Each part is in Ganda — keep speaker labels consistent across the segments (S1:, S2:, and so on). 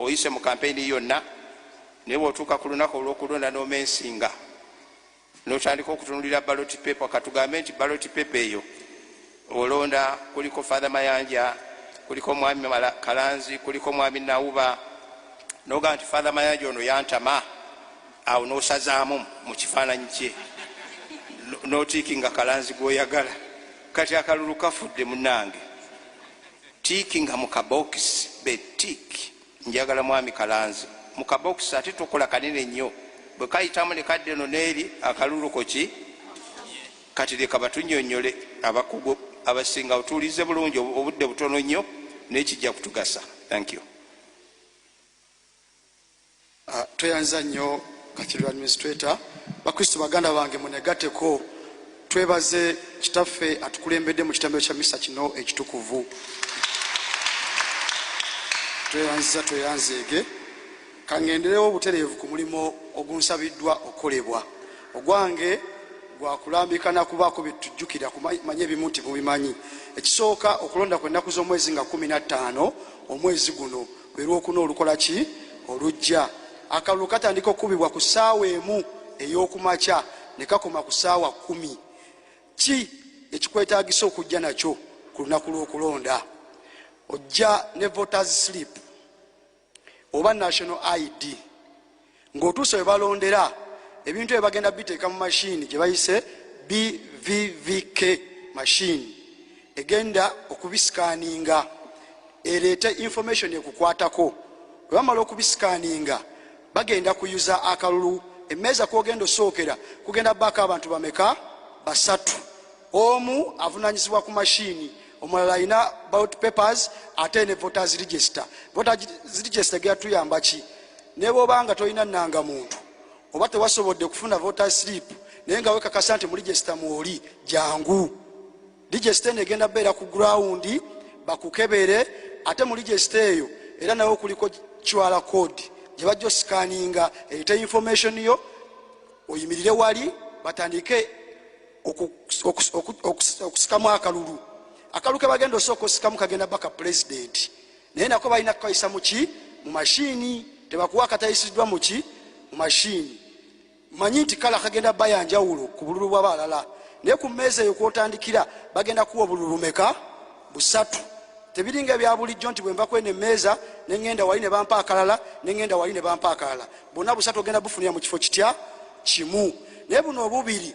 S1: oyise mu kampeyini yonna naye bwotuuka ku lunaku olwokulonda nomensinga notandika okutunulira baloti pepa katugambe nti baloti pepa eyo olonda kuliko fathe mayanja kuliko mwami kalanzi kuliko mwami nauba noga nti fathe mayanja ono yantama awo nosazaamu mu kifaananyi kye notiiki nga kalanzi gwoyagala kati akalulu kafudde munange Tick nga mu kabokisi be tick. Njagala mwami Kalanzi mu kabokisi ate tokola kanene nnyo. Bwe kayitamu ne kadda eno n'eri, akalulu ko ki? Kati leka batunnyonnyole abakugu abasingawo. Tuwulirize bulungi, obudde butono nnyo naye kijja kutugasa. Thank you.
S2: Ah, tweyanziza nnyo kathedral administrator bakristo baganda bange munegateko twebaze kitaffe atukulembedde mu kitambiro kya misa kino ekitukuvu tweyanziza tweyanzeege kangenderewo obutereevu ku mulimu ogunsabiddwa okukolebwa ogwange gwakulambika nakubaako byetujjukira kumanya ebimu nti mubimanyi ekisooka okulonda kwennaku z'omwezi nga 15 omwezi guno lwe lwokuna olukola ki olujja. Akalulu katandika okukubibwa ku ssaawa emu ey'okumakya ne kakoma ku ssaawa kkumi. Ki ekikwetaagisa okujja nakyo ku lunaku lw'okulonda? Ojja ne voters slip oba national ID. ng'otuuse we balondera ebintu ebyo bagenda biteeka mu mashini gye bayise bvvk mashini egenda okubisikaninga ereete information ekukwatako bwe bamala okubisikaninga bagenda kuyuza akalulu emmeeza kwogenda osookera kugenda baako abantu bameka basatu omu avunanyizibwa ku mashini omulala alina bout papers ate ne voters register voters register geyatuyamba ki ne bwoba nga tolina nanga muntu oba tewasobodde kufuna voter slip naye nga wekakasa nti mu register mwoli jangu register eno egenda beera ku ground bakukebere ate mu register eyo era nawe kuliko kiwala code gye bajja osikaninga erete information yo oyimirire wali batandike okusikamu akalulu akalulu ke bagenda osooka osikamu kagenda baka pulezidenti naye nako balina kukayisa muki mu mashiini tebakuwa akatayisiddwa muki mu mashiini manyi nti kala kagenda baya njawulo ku bululu bwaba alala naye ku mmeeza eyo kwotandikira bagenda kuwa obululu meka busatu tebiringa ebyabulijjo nti bwenva kweno emmeeza neŋenda wali ne bampa akalala neŋenda wali ne bampa akalala bonna busatu ogenda bufunira mu kifo kitya kimu naye buno obubiri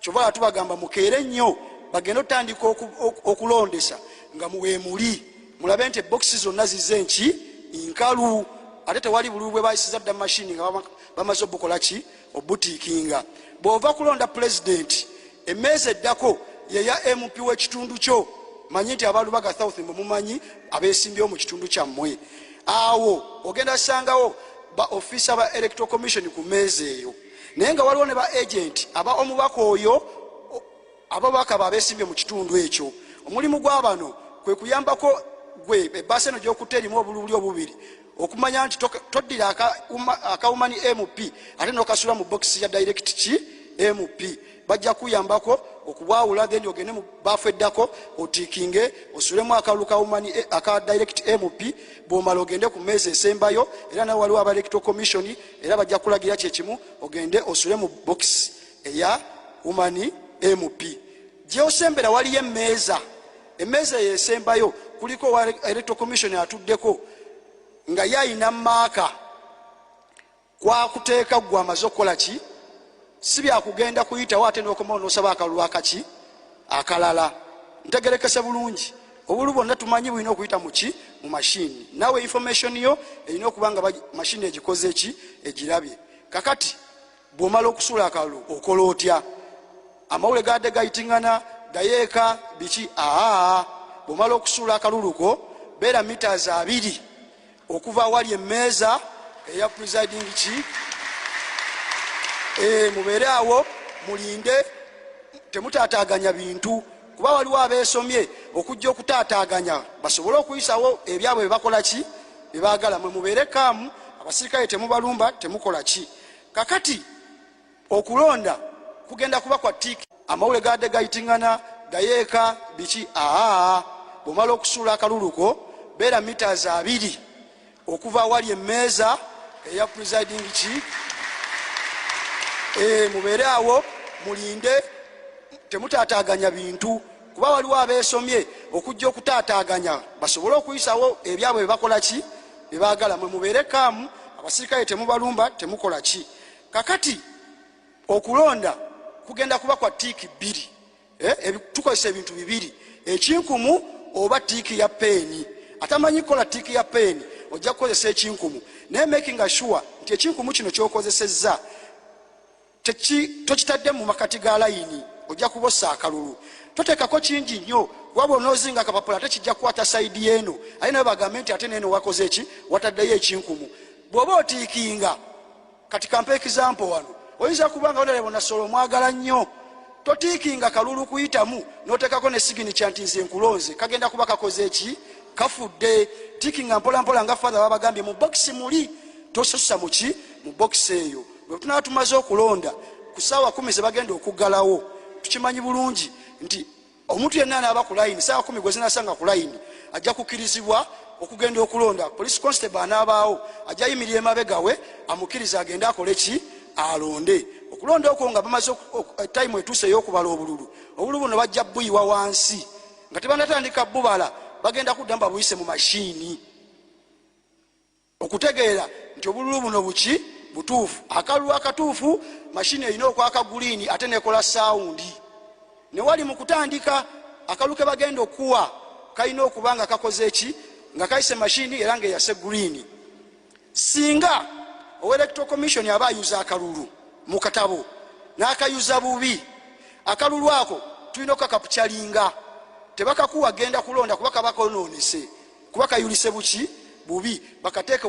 S2: kyova atubagamba mukeere nnyo bagenda otandika okulondesa nga muwemuli mulabe nti ebokisi zonna zize nki nkalu ate tewali bululu bwe bayisiza dda mumashini nga bamaze obukola ki obutiikinga bw'ova kulonda pulezidenti emmeezi eddako yeya mp w'ekitundu kyo manyi nti abalubaga south mwe mumanyi abesimbyewo mu kitundu kyammwe awo ogenda sangawo ba ofisa ba electoral commission ku meezi eyo naye nga waliwo ne ba agenti aba omubaka oyo ababaka ba besimbye mu kitundu ekyo omulimu gwa bano kwe kuyambako gwe ebbaasa eno gyokutta erimu obulubuli obubiri okumanya nti toddira akawumani mp ate nokasula mu bokisi ya direct ki mp bajja kuyambako okubwawula then ogende mu baafu eddako otikinge osulemu akalulu kawumani eh, aka direct mp bwomala ogende ku meezi esembayo era nawe waliwo aba electro commission era bajja kulagira kyekimu ogende osule mu bokisi eya umani mp gyosembera waliyo emeeza emeeza eyo esembayo kuliko wa electro commission atuddeko nga ye ayina maaka kwakuteeka gwe amaze okukola ki si byakugenda kuyitawo ate nokomawo nosaba akalulu akaki akalala ntegerekese bulungi obulu bwonna tumanyi bulina okuyita muki mu mashini nawe information yo erina okuba nga mashini egikoze eki egirabye kakati bwomala okusuula akalulu okola otya amawule gade gayitingana gayeeka biki aa bwomala okusuula akaluluko beera mitas abiri okuva awali emmeeza eya presiding ki eh, mubeere awo mulinde temutaataaganya bintu kuba waliwo abeesomye okujja okutaataaganya basobole okuyisawo ebyabwe bebakola ki bebagala mwe mubeere kaamu abasirikale temubalumba temukola ki kakati Okulonda kugenda kuba kwa tiiki. Amawule gabadde gayitingana gayeeka biki aa bwomala okusuula akalulu ko beera mitas abiri okuva awali emmeeza eya presiding ki eh, mubeere awo mulinde temutaataaganya bintu kuba waliwo abeesomye okujja okutaataaganya basobole okuyisawo ebyabwe bebakola ki bebagala mwe mubeere kaamu abasirikale temubalumba temukola ki Kakati okulonda kugenda kuba kwa tiiki bbiri eh, tukozesa ebintu bibiri ekinkumu oba tiiki ya peeni atamanyi kukola tiiki ya peeni ojja kukozesa ekinkumu naye making assure nti ekinkumu kino kyokozesezza tokitadde mu makati ga layini ojja kubosa akalulu toteekako kingi nnyo kuba bwonoozinga akapapula ate kijja kukwata saidi eno aye naye bagambe nti ate neeno wakoze ki wataddeyo ekinkumu bw'oba otiikinga kati kampa ekizampo wano oyinza kuba nga wonalebo nasola omwagala nnyo totiikinga kalulu kuyitamu notekako ne sigini kyanti nze nkulonze kagenda kuba kakoze ki kafudde tiikinga mpolampola nga fathe babagambye mu bokisi muli tosusa muki mu bokisi eyo bwetunaba tumaze okulonda ku saawa kumi zebagenda okuggalawo tukimanyi bulungi nti omuntu yenna anaaba ku layini saawa kumi gwe zinasanga ku layini ajja kukirizibwa okugenda okulonda police constable anaabaawo ajja yimirira emabegawe amukirize agende akole ki alonde okulonda okwo nga bamaze time etuuse eyokubala obululu obululu buno bajja buyiwa wansi nga tebanatandika bubala bagenda kuddamu babuyise mu mashiini Okutegeera nti obululu buno buki butuufu, akalulu akatuufu mashini erina okwaka guliini ate nekola sawundi. Ne wali mu kutandika, akalulu ke bagenda okukuwa kalina okuba nga kakoze ki? Nga kayise mashini era ng'eyase guliini. Singa owa Electoral Commission aba ayuza akalulu mu katabo n'akayuza bubi, akalulu ako tulina okukakapukyalinga tebakakuwa genda kulonda kuba kaba kononese kuba kayulise buki bubi bakateeke